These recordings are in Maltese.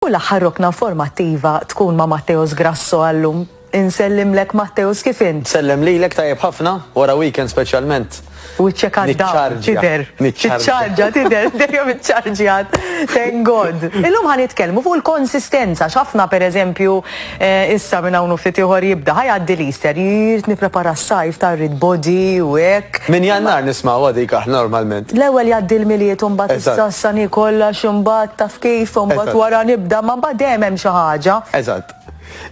U l-aħħar rokna informattiva tkun ma' Matteos Grasso għal-lum. Insellimlek Matteos kif int? Nsellem lilek tajjeb ħafna, wara weekend speċjalment. Wiċċek għad-dawl tidher. Tiċċarġja tidher dejjem iċċarġjat. Thank God. Illum ħa nitkellmu fuq il-konsistenza x'ħafna pereżempju Issa minn hawn u ftit ieħor jibda. Ħa jgħaddi l-Easter, irid nipprepara s-sajf ta' rrid body u hekk. Minn Jannar nismgħuha dik aħna normalment. L-ewwel jgħaddi l-Milied u mbagħad is-Sassani kollox imbagħad taf kif u mbagħad wara nibda ma mbagħad dejjem hemm xi ħaġa. Eżatt.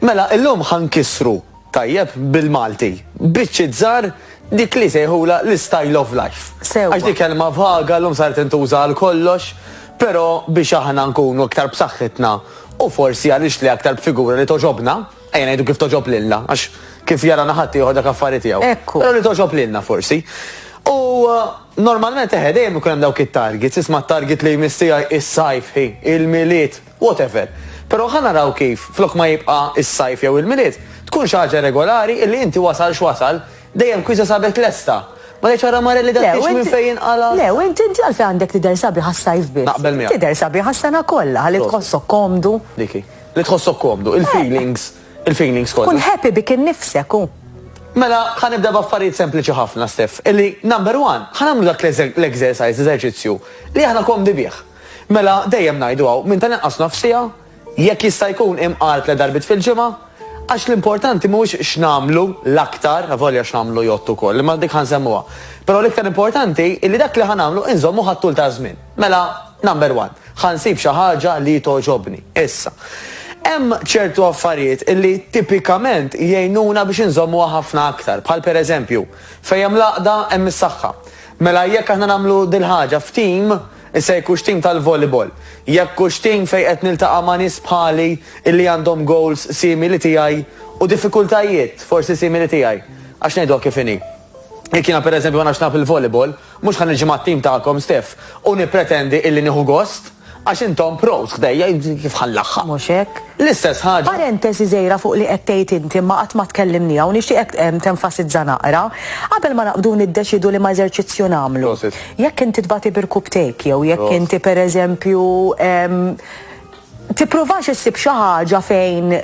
Mela illum ħa nkissru tajjeb bil-Malti biċċiet żgħar dik li jsejħulha l-istyle of life. Sewwa. Għax dik kelma vaga llum saret intuża għal kollox, però biex aħna nkunu iktar b'saħħitna, U forsi għan nixtli aktar b'figura li togħġobna, ejja ngħidu kif togħġob lilna, għax kif jarana ħaddieħor dak affari tiegħu. Ekku. Però li togħġob lilna forsi. U normalment eħe dejjem ikun hemm dawk it-targets, isma' t-target li jmiss tiegħi is-sajf, hi, il-Milied, whatever. Però ħa naraw kif, flok ma jibqa' is-sajf jew il-Milied, tkun xi ħaġa regolari illi inti wasal x'wasal, Dejjem kwieta sabet lesta. Ma tgħidx ara Marelli dan tgħidx minn fejn jinqala'. Le, u int inti għalfejn għandek tidher sabiħ għas-sajf biss? Naqbel miegħek. Tidher sabiħ għas-sena kollha, ħalli tħossok komdu. Dik hi. Li tħossok komdu, il-feelings, il-feelings kollha. Tkun happy bik innifsek, hu. Mela, ħa nibda b'affarijiet sempliċi ħafna, Steff, illi number one, ħa nagħmlu dak l-exercise, l-eżerċizzju, li aħna komdi bih. Mela, dejjem ngħidu hawn, minn tal-inqas nofs siegħa, Jekk jista' jkun imqar tliet darbiet fil-ġimgħa, għax l-importanti mhuwiex x'nagħmlu l-aktar, avolja x'nagħmlu jgħodd ukoll, imma dik ħa nsemmuha. Però l-iktar importanti hi li dak li ħa nagħmlu inżommuh għat-tul taż-żmien. Mela, number one, ħa nsib xi ħaġa li togħġobni. Issa, hemm ċertu affarijiet li tipikament jgħinuna biex inżommuha ħafna aktar, bħal pereżempju, fejn hemm l-għaqda hemm is-saħħa. Mela jekk aħna nagħmlu dil-ħaġa f'tim, Issa jekk hux tim tal-volleyball, jekk hux tim fejn qed niltaqa' ma' nies bħali illi għandhom goals simili tiegħi u diffikultajiet forsi simili tiegħi. Għax ngħiduha kif inhi. Jekk jiena pereżempju ma nafx nilgħab il-volleyball, mhux ħa niġi mat-tim tagħkom, Steph, u nippretendi illi nieħu gost għax intom pros ħdejja, kif ħa nlaħħaq? Mhux hekk. L-istess ħaġa. Parentesi żgħira fuq li qed tgħid inti imma qatt ma tkellimniha u nixtieqek tenfasizza naqra, qabel ma naqbdu niddeċiedu liema eżerċizzju nagħmlu. Jekk inti tbati birkubtejk jew jekk inti pereżempju tippruvax issib xi ħaġa fejn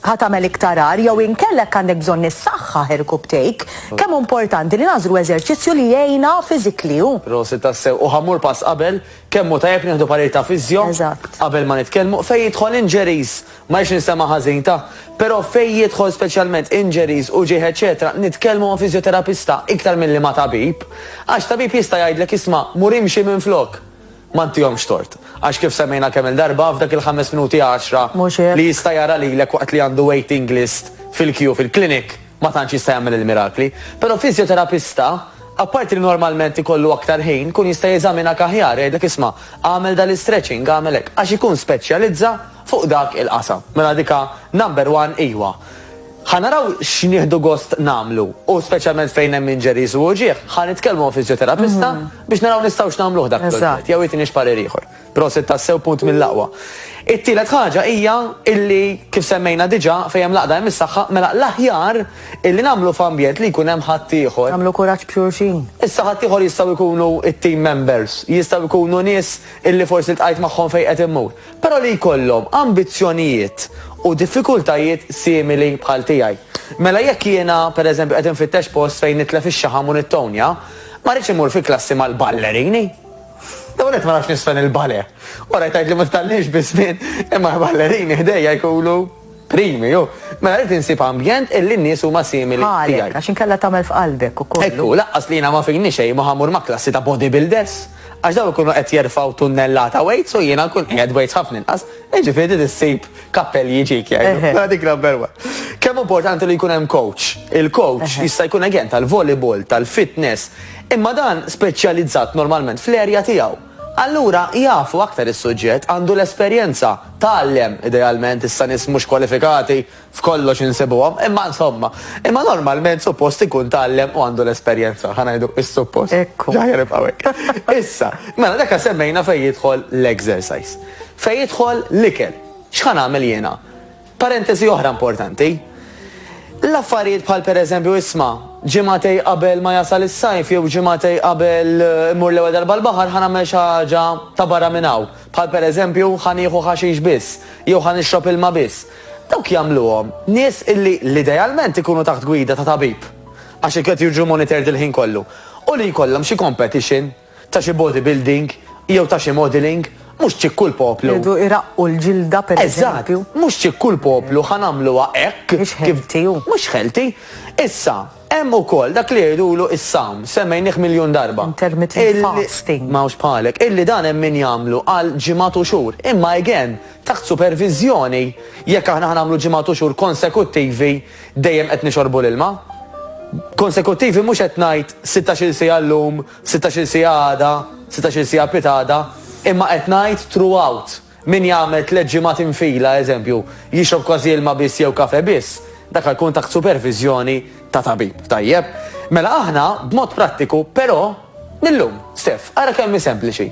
ħatamel iktar ar jew inkellek għandek bżonn issaħħaħ irkubtejk, kemm hu importanti li nagħżlu eżerċizzju li jgħinna fiżikli u. Prosit tassew, u ħammur pass qabel, kemm hu tajjeb nieħdu parir ta' fiżjo qabel ma nitkellmu, fejn jidħol injuries Ma rridx ninsema' ħażin, ta'. Però fejn jidħol speċjalment injuries, uġigħ eċċetera, nitkellmu ma' fiżjoterapista iktar milli ma' tabib. Għax tabib jista' jgħidlek isma' mur imxi minflok. Ma ntihomx tort. Għax kif semmejna kemm-il darba, f'dak il-ħames minuti għaxra li jista' jara lilek waqt li għandu waiting list fil-queue fil-clinic, ma tantx jista' jagħmel il-mirakli. Però fiżjoterapista, apparti li normalment ikollu aktar ħin, ikun jista' jeżaminak aħjar, jgħidlek isma' agħmel dal-istretching, agħmel hekk. Għax ikun speċjalizza fuq dak il-qasam. Mela dika number one iwa. Ħa naraw x'nieħdu gost nagħmlu u speċjalment fejn hemm injuries u uġigħ, ħa nitkellmu ma' fiżjoterapista biex naraw nistgħux nagħmluh dak il-proġett jew jagħtini x'parir ieħor. Prosit tassew punt mill-aqwa. It-tielet ħaġa hija illi kif semmejna diġà fejn hemm l-għaqda hemm is-saħħa, mela l-aħjar illi nagħmlu f'ambjent li jkun hemm ħaddieħor. Nagħmlu kuraġġ b'xulxin. Issa ħaddieħor jistgħu jkunu t-team members, jistgħu jkunu nies illi forsi ltqajt magħhom fejn qed immur. però li jkollhom ambizzjonijiet u diffikultajiet simili bħal tiegħi. Mela jekk jiena, per eżempju, qed infittex post fejn nitlef ix-xaħam u nittownja, ma rridx immur fi klassi mal-ballerini. L-ewwel nett ma nafx nisfen il-bale. Wara jtgħidli ma titgħallimx biż-żmien, imma l-ballerini ħdejja jkunu. primi, u mela rrid insib ambjent illi n-nies huma simili tiegħi. Bħalek, għax inkella tagħmel f'qalbek ukoll. Hekk hu, laqqas li jiena ma fini xejn ma ħa mmur ma' klassi ta' bodybuilders, għax dawn ikunu qed jerfgħu tunnellata weights u jiena nkun qiegħed weights ħafna inqas, jiġifieri trid issib kappell li jiġik jgħidu. Mela dik number one. Kemm hu importanti li jkun hemm coach. Il-coach jista' jkun again tal-volleyball, tal-fitness, imma dan speċjalizzat normalment fl-area tiegħu. Allura jafu aktar is-suġġett, għandu l-esperjenza, tgħallem, idealment, issa nies mhux kwalifikati f'kollox insibuhom, imma insomma. Imma normalment suppost ikun tgħallem u għandu l-esperjenza, ħa ngħidu is-suppost. L-aħjar nibqgħu hekk. Issa, mela dak li semmejna fejn jidħol l-exercise. Fejn jidħol l-ikel. X'ħa nagħmel jiena? Parentesi oħra importanti. L-affarijiet bħal pereżempju isma', ġimagħtej qabel ma jasal is-sajf jew ġimagħtej qabel immur l-ewwel darba l-baħar ħa nagħmel xi ħaġa ta' barra minn hawn, bħal pereżempju ħa nieħu ħaxix biss jew ħa nixrob ilma biss, dawk jagħmluhom nies illi l-idealment ikunu taħt gwida ta' tabib għax qed jiġu monitored il-ħin kollu u li jkollhom xi competition. ta' xi bodybuilding jew ta' xi modelling, mhux ċikku l-poplu. Irridu jraqqu l-ġilda pereżempju. Eżatt, mhux ċikku l-poplu ħa nagħmluha hekk. Mhix healthy hu. Mhux healthy. Issa, hemm ukoll dak li jgħidulu s-sawm, semmejnih miljun darba. Intermittent fasting. M'hawnx bħalek. Illi dan hemm min jagħmlu għal ġimgħat u xhur. Imma again, taħt superviżjoni, jekk aħna ħa nagħmlu ġimgħat u xhur konsekuttivi dejjem qed nixorbu l-ilma. Konsekuttivi mhux qed ngħid sittax-il siegħa llum, Sittax-il siegħa għada, sittax-il siegħa pitgħada, imma qed ngħid throughout. Min jagħmel tliet ġimgħat infila, eżempju, jixrob kważi ilma biss jew kafè biss, dak jkun taħt superviżjoni ta' tabib, tajjeb? Mela aħna, b'mod prattiku, però, mil-lum, Steff, ara kemm hi sempliċi.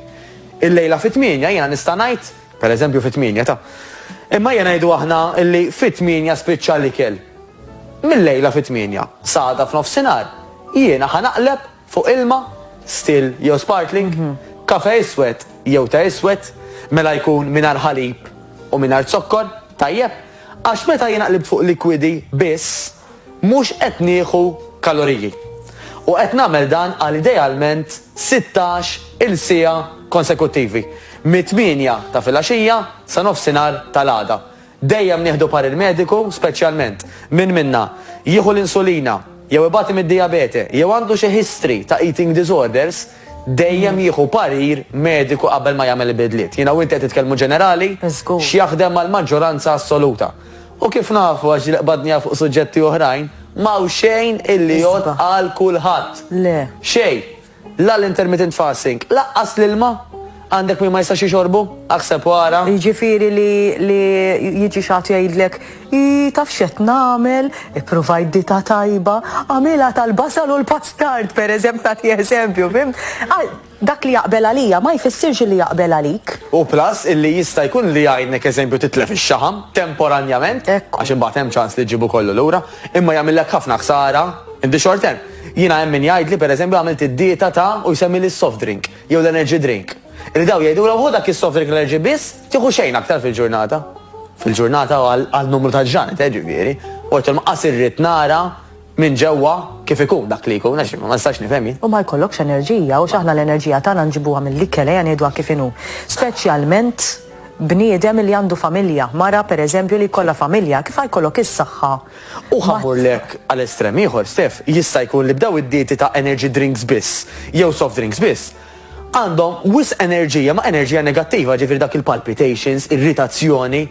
Il-lejla fit-tmienja jiena nista' ngħid, pereżempju fit-tmienja ta'. Imma ejja ngħidu aħna li fit-tmienja spiċċa l-ikel. Mil-lejla fit-tmienja, sa għada f'nofsinhar, jiena ħa naqleb Fuq ilma, still jew sparkling, kafè iswed jew te iswed, mela jkun mingħajr ħalib u mingħajr zokkor, tajjeb, għax meta jien aqlib fuq likwidi biss, mhux qed nieħu kaloriji. U qed nagħmel dan għal idealment sittax il siegħa konsekuttivi, mit-tmienja ta' filgħaxija sa nofsinhar tal-għada, Dejjem nieħdu parir mediku, speċjalment min minna jieħu l-insulina jew ibati mid-dijabete jew għandu xi history ta' eating disorders, dejjem jieħu parir mediku qabel ma jagħmel il-bidliet. Jiena u inti qed nitkellmu ġenerali, x'jaħdem għall-maġġoranza assoluta. U kif nafu, għax ġieli qbadniha fuq suġġetti oħrajn, m'hawn xejn illi jgħodd għal kulħadd. Xejn! La l-intermittent fasting, laqqas l-ilma għandek min ma jistax jixorbu? Aħseb u ara. Jiġifieri li li jiġi xi ħadd jgħidlek, Ii, taf x'qed nagħmel, ippruvajt dieta tajba, għamilha tal-basal u l-pastard, pereżempju, nagħti eżempju, fihimt? Dak li jaqbel għalija ma jfissirx li jaqbel għalik. U plus illi jista' jkun li jgħinnek eżempju titlef ix-xaħam, temporanjament, għax imbagħad hemm ċans li ġġibu kollu lura, imma jagħmillek ħafna ħsara in the short term. Jiena hemm min jgħidli pereżempju għamilt id-dieta ta' u jsemmili s-soft drink jew l-energy drink. Li dawn jgħidulhom ħu dak is-soft drink l-energy biss, tieħu xejn aktar fil-ġurnata. Fil-ġurnata u għal numru ta' ġranet eh, ġifieri. U għidtilhom qas irrid nara minn ġewwa kif ikun dak li jkun għax ma nistax nifhem jien. U ma jkollokx enerġija u x'aħna l-enerġija tagħna nġibuha mill-ikel ejja ngħiduha kif inhu. Speċjalment bniedem li għandu familja, mara pereżempju li jkollha familja, kif ħa jkollok is-saħħa U ħa mmurlek għal estrem ieħor, Stef, jista' jkun li b'daw id-dieti ta' energy drinks biss jew soft drinks biss, għandhom wis enerġija ma' enerġija negattiva, ġifieri dak il-palpitations, irritazzjoni,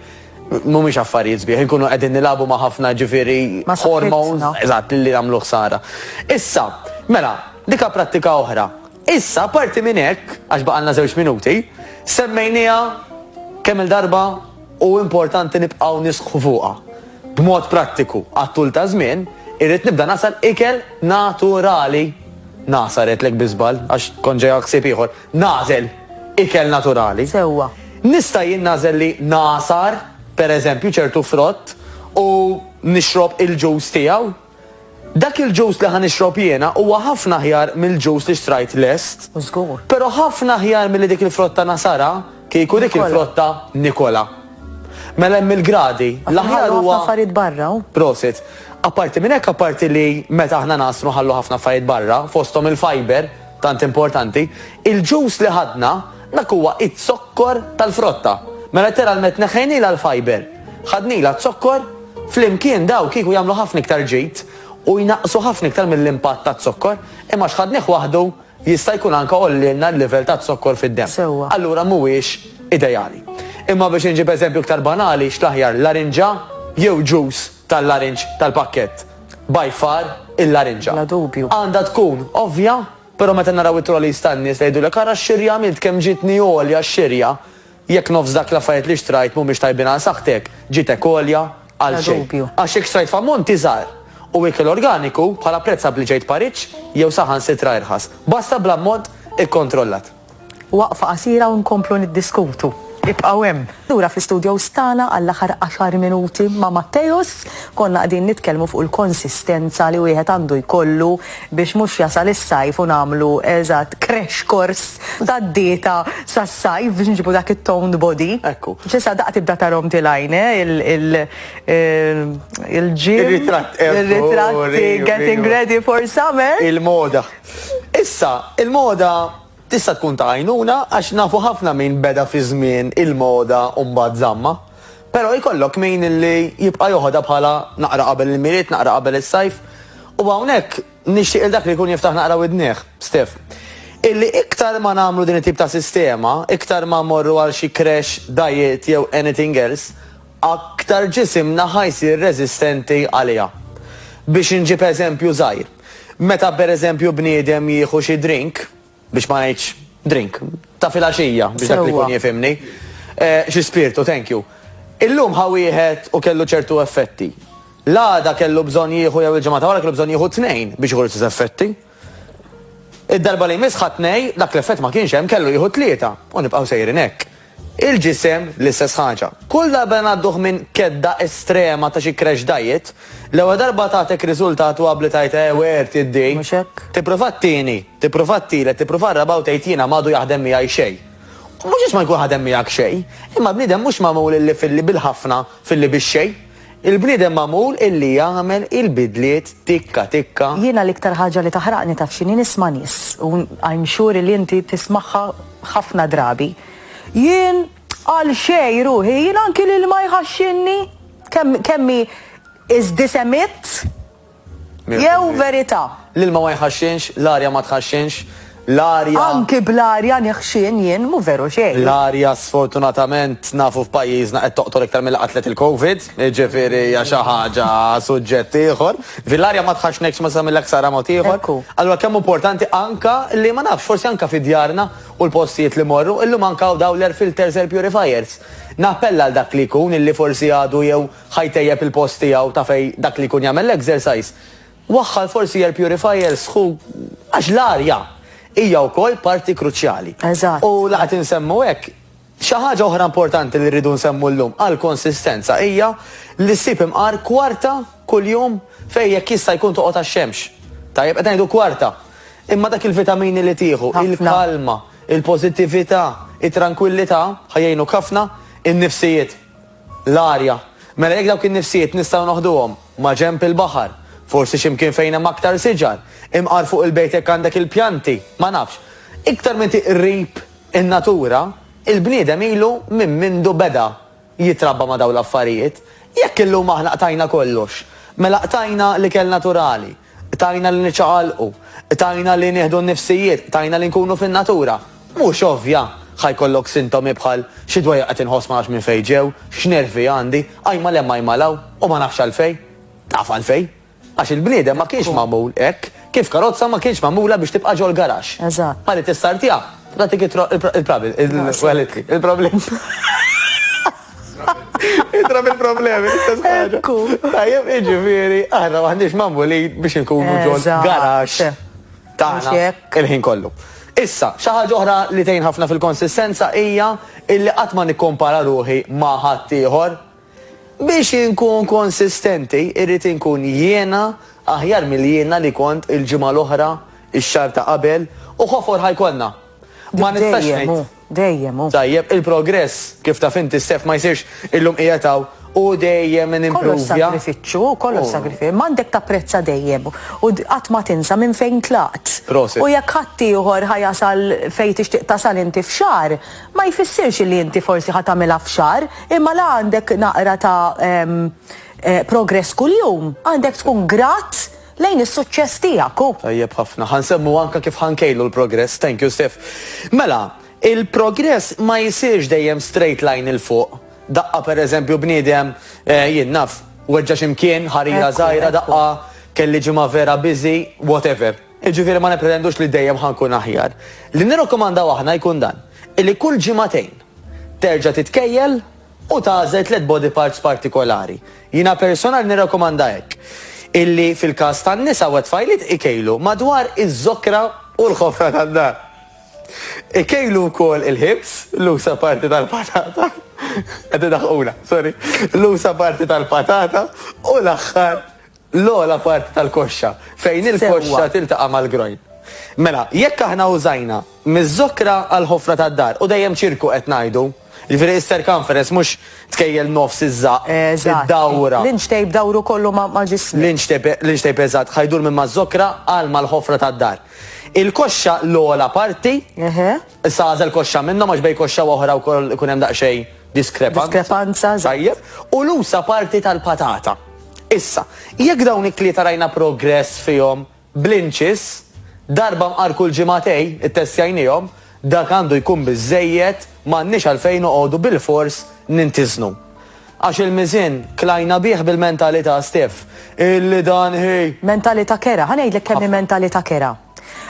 mhumiex affarijiet sbieħ, inkunu qegħdin nilagħbu ma' ħafna ġifieri hormones, eżatt, li jagħmlu ħsara. Issa, mela, dika prattika oħra. Issa, parti minn hekk, għax baqalna żewġ minuti, semmejniha kemm-il darba u importanti nibqgħu nisħqu fuqha. B'mod prattiku, għat-tul ta' żmien, irrid nibda ngħasar ikel naturali. Ngħasar għedtlek bi żball, għax kont ġejja ħsieb ieħor. Nagħżel ikel naturali. Sewwa. Nista' jien nagħżel li ngħasar, pereżempju, ċertu frott u nixrob il-ġus tiegħu? Dak il-ġus li ħa nixrob jiena huwa ħafna aħjar mill-ġus li xtrajt lest. Żgur. Però ħafna aħjar milli dik il-frotta nasara, kieku dik il-frotta nikola. Mela hemm il-gradi, l-aħjar huwa. Ħallu ħafna affarijiet barra. Prosit. Apparti minn hekk, apparti li meta aħna ngħasru nħallu ħafna affarijiet barra, fosthom il-fiber, tant importanti, il-ġus li ħadna, Dak huwa iz-zokkor tal-frotta. Mela letteralmet neħħejnilha l-fiber. Ħadnilha z-zokkor, flimkien daw kieku jagħmlu ħafna iktar ġid u jnaqqsu ħafna iktar mill-impatt taz-zokkor, imma għax ħadnih waħdu jista' jkun anke għollielna l-livell taz-zokkor fid-demm. Sewwa. Allura mhuwiex ideali. Imma biex inġib eżempju iktar banali, x'l-aħjar larinġa jew ġus tal-larinġ tal-pakkett? By far il-larinġa. Bla dubju. Għandha tkun ovvja Però meta naraw it-trolleys tan-nies li jgħidulek ara x-xirja għamilt, kemm ġietni għolja x-xirja, jekk nofs dak l-affarijiet li xtrajt mhumiex tajbin għal saħħtek, ġietek għolja għal xejn. Għax jekk xtrajt f'ammont iżgħar u ikel organiku, bħala prezz abbliġejt pariġġ jew saħansitra irħas. Basta bl-ammont ikkontrollat. Waqfa qasira u nkomplu niddiskutu. Ibqgħu hemm. Lura fl-istudios tagħna għall-aħħar għaxar minuti ma' Matteus. Konna qegħdin nitkellmu fuq il-konsistenza li wieħed għandu jkollu biex mhux jasal is-sajf u nagħmlu, eżatt, crash course tad-dieta sas-sajf biex nġibu dak it-toned body. Ekku. S'issa daqqa tibda tarahom tilgħin, eh, il-gym. Ir-ritratt, ekku. Ir-ritratti getting ready for summer. Il-moda. Issa, il-moda tista' tkun ta' għajnuna għax nafu ħafna min beda fi żmien il-moda u mbagħad żammha. Però jkollok min li jibqa' joħodha bħala naqra qabel il-Milied, naqra qabel is-Sajf. U hawnhekk nixtieq lil dak li jkun jiftaħ naqra widnih, Stef, illi iktar ma nagħmlu din it-tip ta' sistema, iktar ma mmorru għal xi crash diet jew anything else, aktar ġisimna ħa jsir reżistenti għaliha. Biex inġib eżempju żgħir. Meta pereżempju bniedem jieħu xi drink, biex ma ngħidx drink, ta' filgħaxija biex dak li jkun jifhimni, xi spirtu, thank you. Illum ħa wieħed u kellu ċertu effetti. L-għada kellu bżonn jieħu jew il-ġimgħa ta' wara kellu bżonn jieħu tnejn biex jieħu l-istess effetti. Id-darba li jmiss ħa tnej, dak l-effett ma kienx hemm kellu jieħu tlieta u nibqgħu sejrin hekk. Il-ġisem, l-istess ħaġa. Kull darba li ngħadduh minn kedda estrema ta' xi crash diet, l-ewwel darba tagħtek riżultat u abli tgħid eh wirt iddi. Mhux hekk? Tipprova t-tieni, tipprova t-tielet, tipprova r-raba' u tgħid jiena m'għadu jaħdem miegħi xejn. U mhux għax ma jkun ħadem miegħek xejn, imma l-bniedem mhux magħmul illi filli bil-ħafna, filli bix-xejn. Il-bniedem magħmul illi jagħmel il-bidliet tikka tikka. Jiena l-iktar ħaġa li taħraqni taf x'inhi nisma' nies, u I'm sure illi inti tismagħha ħafna drabi, Jien għal xejn ruħi, jien anki l-ilma jħaxxinni! Kemm kemm hi is disemitt! Jew verità. L-ilma ma jħaxxinx, l-arja ma tħaxxinx, l-arja. Anki bl-arja neħxien jien, mhu veru xejn. L-arja sfortunatament nafu f'pajjiżna qed toqtol iktar milli qatlet il-Covid, jiġifieri hija xi ħaġa suġġett ieħor. Jiġifieri l-arja ma tħaxxnekx ma tagħmillek ħsara mod ieħor. Ekku. Allura kemm hu importanti anke li ma nafx, forsi anke fi djarna u l-postijiet li mmorru, illum anke hawn dawn l-air filters, air purifiers. Nappella għal dak li jkun illi forsi għadu jew. Ħa jtejjeb il-post tiegħu ta' fejn dak li jkun jagħmel l-exercise. Waħħal forsi air purifiers ħu għax l-arja hija wkoll parti kruċjali. Eżatt. U la qed insemmu hekk, xi ħaġa oħra importanti li rridu nsemmu llum għall-konsistenza hija li ssib imqar kwarta kuljum fejn jekk jista' jkun toqgħod għax-xemx. Tajjeb, qed ngħidu kwarta. Imma dak il-vitamini li tieħu, il-kalma, il-pożittività, it-trankwillità ħa jgħinuk ħafna, in-nifsijiet. L-arja. Mela jekk dawk in-nifsijiet nistgħu noħduhom maġenb il-baħar, forsi xi mkien fejn hemm aktar siġar, imqar fuq il-bejt jekk għandek il-pjanti, ma nafx. Iktar m'inti qrib in-natura, il-bniedem ilu minn mindu beda jitrabba ma' dawn l-affarijiet. Jekk illum aħna qtajna kollox, mela qtajna l-ikel naturali, Tajna li niċċaqalqu, tajna li nieħdu n-nifsijiet, tajna li nkunu fin-natura. Mhux ovvja! Ħa jkollok sintomi bħal, xi dwejjaq qed inħoss ma nafx minn fejn ġew, x'nervi għandi, ajma 'l hemm ajma 'l hawn, u ma nafx għalfejn. Taf għalfejn? Għax il-bniedem ma kienx magħmul hekk, kif karozza ma kienx magħmula biex tibqa' ġol-garaxx. Eżatt. Ħalli tistartjaha, tagħtik it-troqq, il-problem. Itra minn problemi, l-istess ħaġa. Tajjeb, iġifiri, aħna maħniex mamuli biex nkunu ġol garax. Taħna, il-ħin kollu. Issa, xaħġa oħra li tejn ħafna fil-konsistenza hija illi qatt ma nikkompara ruħi ma' ħaddieħor. Biex inkun konsistenti, irrid inkun jiena aħjar mill-jiena li kont il-ġimgħa l-oħra, ix-xar ta' qabel, u ħofor ħajkonna. Ma nistax Dejjem hu. Tajjeb, il-progress, kif taf inti Steph, ma jsirx illum qiegħed hawn u dejjem nimpruvja. Kollox sagrifiċċju, kollox sagrifiċċju. Imma għandek tapprezza dejjem u qatt ma tinsa minn fejn tlaqt. Prosit. U jekk ħaddieħor ħa jasal fejn tixtieq tasal inti f'xahar, ma jfissirx li inti forsi ħa tagħmilha f'xahar, imma la għandek naqra ta' progress kuljum, għandek tkun grat lejn is-suċċess tiegħek u. Tajjeb ħafna. Ħa nsemmu anke kif ħa nkejlu l-progress. Thank you Steph. Mela, il-progress ma jsirx dejjem straight line 'il fuq. Daqqa per eżempju bniedem, eh, jien naf, weġġa' xi mkien, ħarira żgħira, daqqa kelli ġimgħa vera busy, whatever. Jiġifieri ma nippretendux li dejjem ħa nkun aħjar. Li nirrakkomandaw aħna jkun dan, illi kull ġimagħtejn terġa' titkejjel u tagħżel tliet body parts partikolari. Jiena personali nirrakkomanda hekk, illi fil-każ tan-nisa u t-tfajliet ikejlu madwar iz-zokra u l-ħofra tad-dar. Ikejlu wkoll il-ħibż, l-usa' parti tal-patata, qed idaħħquna, sorry, l-usa' parti tal-patata u l-aħħar, L-ogħla parti tal-koxxa, fejn il-koxxa tiltaqa' mal-grojn. Mela, jekk aħna użajna miż-żokra għall-ħofra tad-dar, u dejjem ċirku qed ngħidu, jiġifieri is-circumference mhux tkejjel nofs iż-żaqq, id-dawra. Eżatt. L-inch tape dawru kollu ma' ġismek. L-inch tape, l-inch tape eżatt, ħa jdur minn maż-żokra għal mal-ħofra tad-dar. Il-koxxa l-ogħla parti. Eħe. Issa għażel koxxa minnhom għax bejn koxxa u oħra wkoll ikun hemm daqsxejn diskrepanza. Diskrepanza, eżatt. Tajjeb. U l-usa parti tal-patata. Issa, jekk dawn it-tlieta rajna progress fihom bl-inċis, darba mqar kull ġimagħtej, ittestjajniehom, dak għandu jkun biżżejjed, m'għandniex għalfejn noqogħdu bilfors nintiżnu. Għax il-miżien klajna bih bil-mentalità, Steph, illi dan hi. Mentalità kerha. Ħa ngħidlek kemm hi mentalità kerha.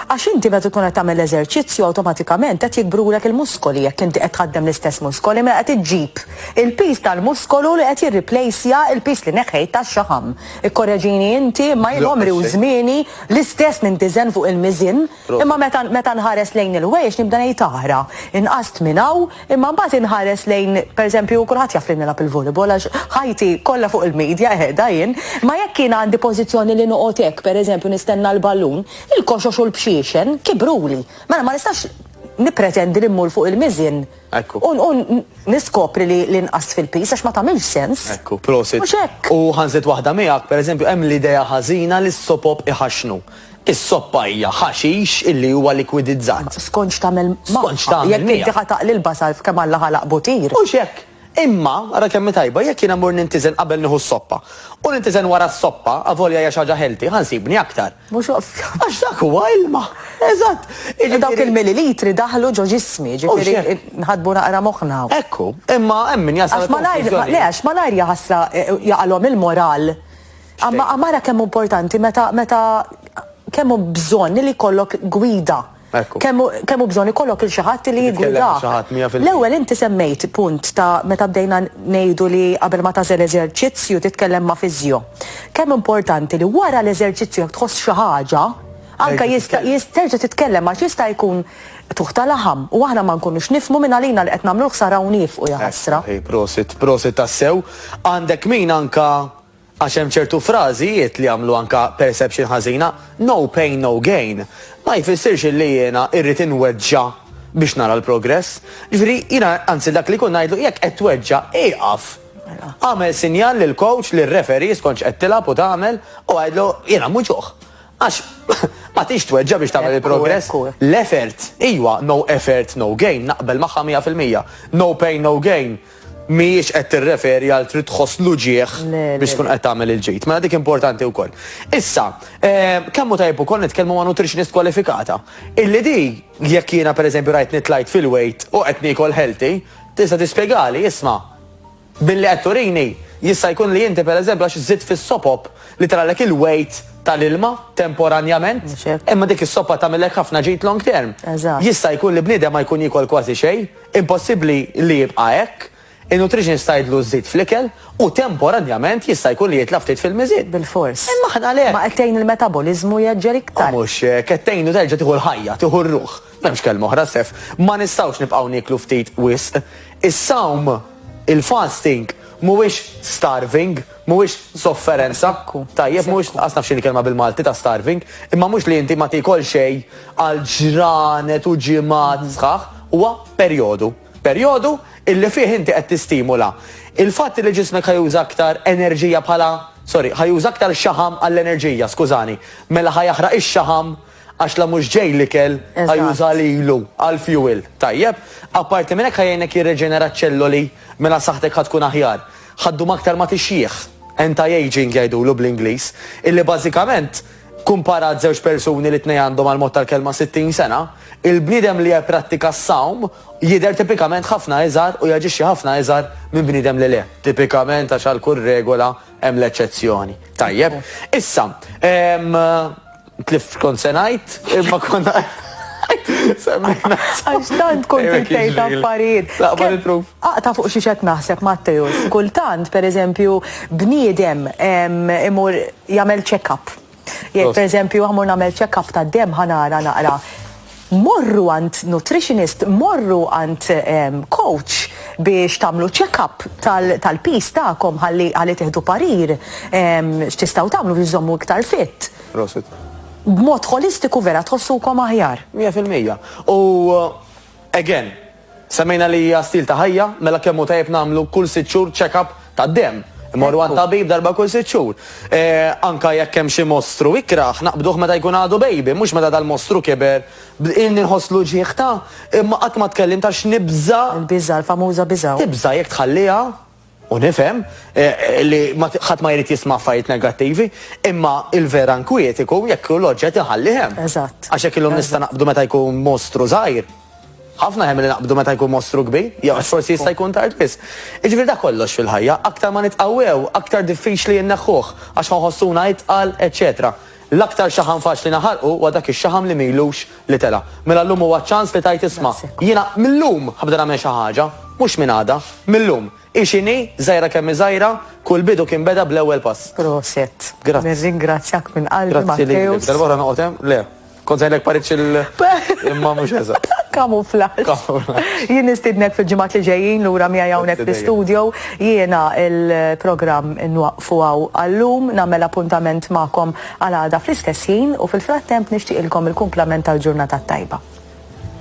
Għax inti meta tkun qed tagħmel l-eżerċizzju awtomatikament qed jikbrulek il-muskoli jekk inti qed tħaddem l-istess muskoli mela qed iġġib il-piż tal-muskolu li qed jirriplejsja l-piż li neħħejt tax-xaħam. Ikkoreġini inti imma jien għomri u żmieni l-istess nintiżen fuq il-miżien imma meta meta nħares lejn il-wejjex nibda ngħid aħra, inqast minn hawn, Imma mbagħad inħares lejn, pereżempju, kulħadd jaf li nilgħab il-volleyball għax ħajti kollha fuq il-media qiegħda jien, imma jekk jien għandi pożizzjoni li noqgħod hekk, pereżempju, nistenna l-ballun, il-koxox u l-bxiexen kibruli. Mela ma nistax nippretendi li mmur fuq il-miżien u niskopri li nqast fil-piż għax ma tagħmilx sens. Mhux hekk. U ħa nżid waħda miegħek, pereżempju, hemm l-idea ħażina li s-sopop iħaxxnu. Is-soppa hija ħaxix illi huwa likwidizzat. Skont x'tagħmel magħha. Skont x'tagħmel miegħu. Jekk inti ħa taqli l-basal f'kemm Alla ħalaq butir. Mhux hekk. Imma, ara kemm hi tajba, jekk jiena mmur nintiżen qabel nieħu s-soppa, u nintiżen wara s-soppa, avolja hija xi ħaġa healthy, ħa nsibni aktar. Mhux ovvja. Għax dak huwa ilma. Eżatt. Jiġifieri. Dawk il-millilitri daħlu ġo ġismi, jiġifieri nħadbu naqra moħħna. Hekk hu. Imma hemm min jasal għall-konklużjoni. Għax malajr, le, għax malajr jaħasla, jaqalhom il-moral. Għamma għamara kemm importanti meta meta kemm hu bżonn li jkollok gwida. Kemm hu bżonn ikollok il xi ħadd li jigwida. L-ewwel inti semmejt punt ta' meta bdejna ngħidu li qabel ma tażel eżerċizzju titkellem ma' fiżjo. Kemm importanti li wara l-eżerċizzju jekk tħoss xi ħaġa, anke jista' terġa' titkellem għax jista' jkun tuħ ta' laħam u aħna ma nkunux nifhmu minn għalina li qed nagħmlu l-ħsara u nieqfu jaħasra. Prosit, prosit tassew. Għandek min anke Għax hemm ċertu frażijiet li jagħmlu anke perception ħażina, no pain no gain. Ma jfissirx illi jiena irrid inweġġa' biex nara l-progress. Ġifieri jiena anzi dak li jkun ngħidlu jekk qed tweġġa' ieqaf. Agħmel sinjal lill-coach, lir-referee skont x'qed tilgħab u tagħmel u għidlu jiena nwiġġuh. Għax ma tridx tweġġa' biex tagħmel il-progress. L-effort, ijwa, no effort no gain, naqbel magħha mija fil-mija. No pain no gain. mhijiex qed tirreferi għal trid tħoss l-uġigħ biex tkun qed tagħmel il-ġid. Mela dik importanti wkoll. Issa, eh, kemm hu tajjeb ukoll nitkellmu ma' nutritionist kwalifikata. Illi di jekk jiena pereżempju rajt nitlajt fil-weight u qed niekol healthy, tista' tispjegali, isma' billi qed turini jista' jkun li inti pereżempju għax żidt fis-sopop li tralek il-weight tal-ilma temporanjament, imma dik is-soppa tagħmilek ħafna ġid long term. Jista' jkun li bniedem ma jkun jikol kważi xejn, Impossibbli li jibqa' hekk. In-nutritionist tgħidlu żid fl-ikel u temporanjament jista' jkun li jitla' ftit fil-miżien. Bilfors. Imma aħna għalhekk. Ma qed tgħin il-metaboliżmu jgħeġġel iktar. U mhux hekk, qed tgħinu terġa' tieħu l-ħajja, tieħu r-ruħ. M'hemmx kelma oħra, Sef. Ma nistgħux nibqgħu nieklu ftit wisq. Is-sawm, il-fasting, mhuwiex starving. Mhuwiex sofferenza, tajjeb, mhuwiex, qas naf x'inhi l-kelma bil-Malti ta' starving, imma mhux li inti ma tiekol xejn għal ġranet u ġimgħat sħaħ, huwa perjodu. Perjodu illi fih inti qed tistimula il-fatt illi ġismek ħa juża aktar enerġija bħala, sorry, ħa juża aktar xaħam għall-enerġija, skużani, mela ħa jaħraq ix-xaħam għax la mhux ġej l-ikel ħa juża lilu għall-fuel, tajjeb? Apparti minn hekk ħa jgħinek jirreġenera ċ-ċelloli mela saħħtek ħa tkun aħjar. Ħaddum aktar ma tixjieħ, anti-aging jgħidulu bl-Ingliż, illi bażikament kkumparat żewġ persuni li t-tnejn għandhom għall-mod tal-kelma 60 sena, il-bniedem li jipprattika s-sawm jidher tipikament ħafna iżgħar u jaġixxi ħafna iżgħar minn bniedem li le. Tipikament għax għal kull regola hemm l-eċċezzjoni. Tajjeb. Issa, Tlift kont se ngħid, imma kont Semmejna. Għax tant kont tgħid affarijiet. Laqba nitruf. Aqta fuq xi xed naħseb Matteus. Kultant, pereżempju, bniedem imur jagħmel check-up. Jekk pereżempju għamur nagħmel check-up tad-dem ħanara naqra Morru għand nutritionist, morru għand coach biex tagħmlu check-up tal-piż tagħkom ħalli ħalli tieħdu parir x'tistgħu tagħmlu biex żżommu iktar fit. Prosit. B'mod ħolistiku vera tħossukom aħjar. Mija fil-mija. U again, Semmejna li hija stil ta' ħajja, mela kemm hu tajjeb nagħmlu kull sitt xhur check-up tad-demm. Immorru għat-tabib darba kull sitt xhur. Anke jekk hemm xi mostru ikrah, naqbduh meta jkun għadu bejbi, mhux meta dal-mostru kiber. Ilni nħoss l-uġigħ ta', imma qatt ma tkellimt għax nibża'. Il-biża', il-famuża biża'. Tibża' jekk tħalliha. U nifhem li ħadd ma jrid jisma' affarijiet negattivi, imma l-vera nkwiet ikun jekk hu l-oġġett inħallih hemm. Eżatt. Għax hekk illum nista' naqbdu meta jkun mostru żgħir. Ħafna aħjar milli naqbdu meta jkun mostru kbir, jew għax forsi jista' jkun tard wisq. Jiġifieri dak kollox fil-ħajja, aktar ma nitqawwew, aktar diffiċli inneħħuh, għax ħa nħossuna itqal, eċċetera. L-aktar xaħam faċli naħarqu huwa dak ix-xaħam li m'ilux li tela'. Mela llum huwa ċ-ċans li tgħid isma', jiena mil-lum ħabda nagħmel xi ħaġa, mhux minn għada, mil-lum. Hi x'inhi, żgħira kemm hi żgħira, kull bidu kien beda bl-ewwel pass. Proset. Grazzi. Nirringrazzjak minn qalbi Grazzi lilek. Matteus. Darba oħra noqgħod hemm? Le. Kont se ngħidlek paritx il imma mhux eżatt. Kamuflaġġ. Kamuflaġġ. Jien nistidnek fil-ġimgħat li ġejjin lura miegħi hawnhekk Grazzi dejjem. fl-istudio. Jiena il-programm inwaqfu. fuqha u għal-lum nagħmel appuntament magħkom għal għada fl-istess ħin u fil-frattemp nixtieqilkom il-kumplament tal-ġurnata t-tajba.